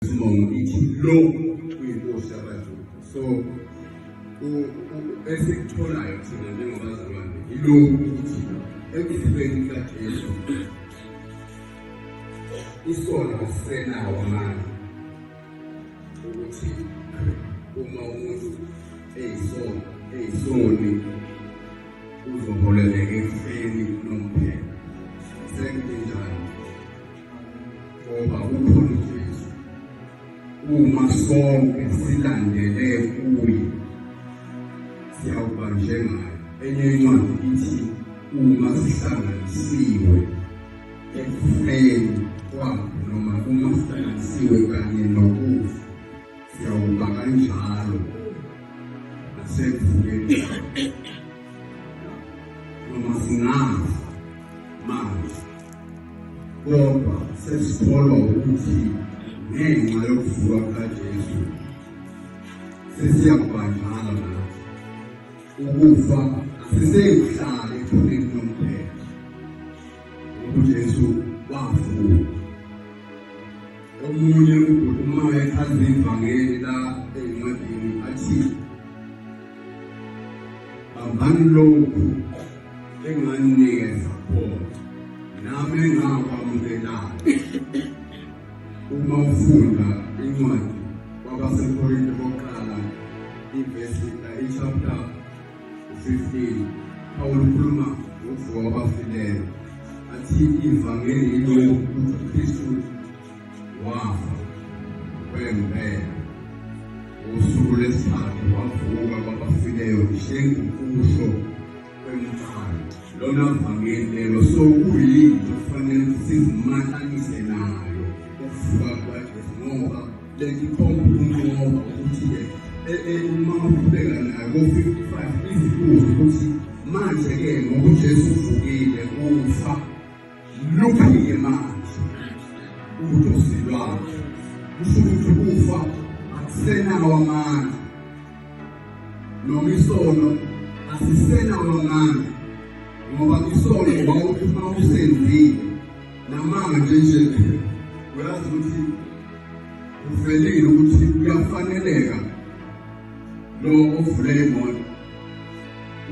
Sibonga ukuthi lo uyinkosi yabaZulu. So esikutholayo thina njengabazalwane yilokhu ukuthi ekufeni kaJesu isona asisenawo amandla ukuthi uma umuntu eyisona eyisoni uzoholeleka ekufeni nomphela Ngoba ukhulu Jesu uma sonke silandele kuye siyawuba njengaye. Enye incwadi ithi uma sihlanganisiwe ekufeni kwakhe noma uma sihlanganisiwe kanye nokufa Siyawuba kanjalo nasekuvukeni noma singazi manje kodwa sesikholwa ukuthi ngenxa yokuvuka kukaJesu sesiyakubanjala nathi ukufa asisekuhlala ephuneni lomphela uJesu wavuka Omunye ubhuti uma echaza ivangeli la encwadini athi bambani lokhu enganinikeza khona nami engakwamukelayo uma ufunda incwadi kwabasekorinto bokuqala ivesi ichapter 15 Pawulu ukhuluma ngokuvuka kwabafileyo athi ivangeli yilo yokuthi uKristu wafa kwempela usuku lwesithathu wavuka kwabafileyo njengokusho kwemfana lona vangeli lelo so kuyini kufanele sizimatanise nayo ukuvuka kwaJesu ngoba Lelikhomba ukunqoba ukuthi-ke uma uqhubeka nako 55 izibuzo ukuthi manje-ke ngoba uJesu uvukile ufa luphi-ke manje udosi lwakhe kusho ukuthi ukufa akusenawo amandla noma isono asisenawo amandla ngoba isono wawuthi uma usenzile Namanga nje nje uyazi ukuthi uvelile ukuthi kuyafaneleka lo ovule imoto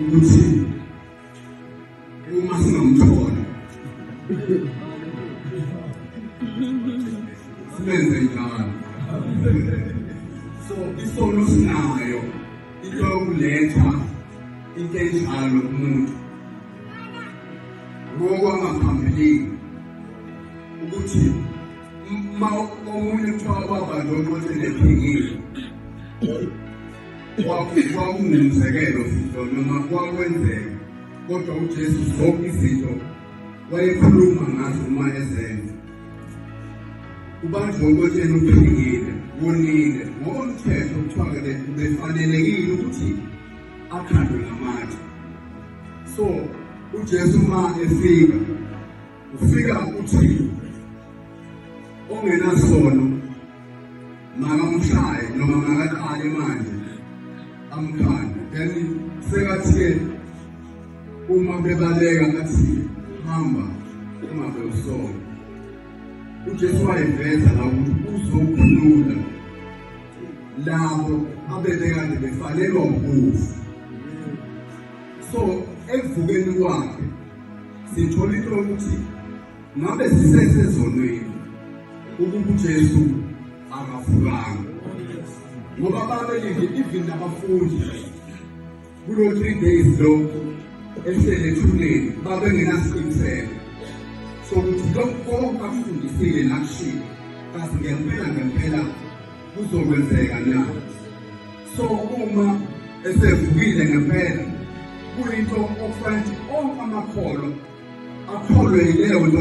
ukuthi uma singamthola sibenze njalo so isono sinayo into yokuletha into enjalo kumuntu ngokwangaphambilini ukuthi uma omunye kuthiwa ubaba lo ukuthi lephingile kwakungumzekelo futhi noma kwakwenzeka kodwa uJesu zonke izinto wayekhuluma ngazo uma ezenza ubanjwe ukotsheni uphingile wonile ngokomthetho kuthiwa-ke befanelekile ukuthi akhandwe ngamatshe so ujesu uma efika ufika uthini ongenasono makamshaye noma makaqale manje amkhanda then sekathi-ke uma bebaleka athi hamba ungabe usona ujesu wayiveza la ukuthi uzokhulula labo abebekade befanelwa ukufa so ekuvukeni kwakhe sithola into yokuthi Ngabe sisesezonweni ukuba uJesu akavukanga. Ngoba babelinde even nabafundi kulo 3 days lo ehlele ethuneni babengenasiqiniseko sokuthi lokhu konke akufundisile nakushilo kazi ngempela ngempela kuzokwenzeka na so uma esevukile ngempela kuyinto okufanele onke amakholwa akholwe yileyo nto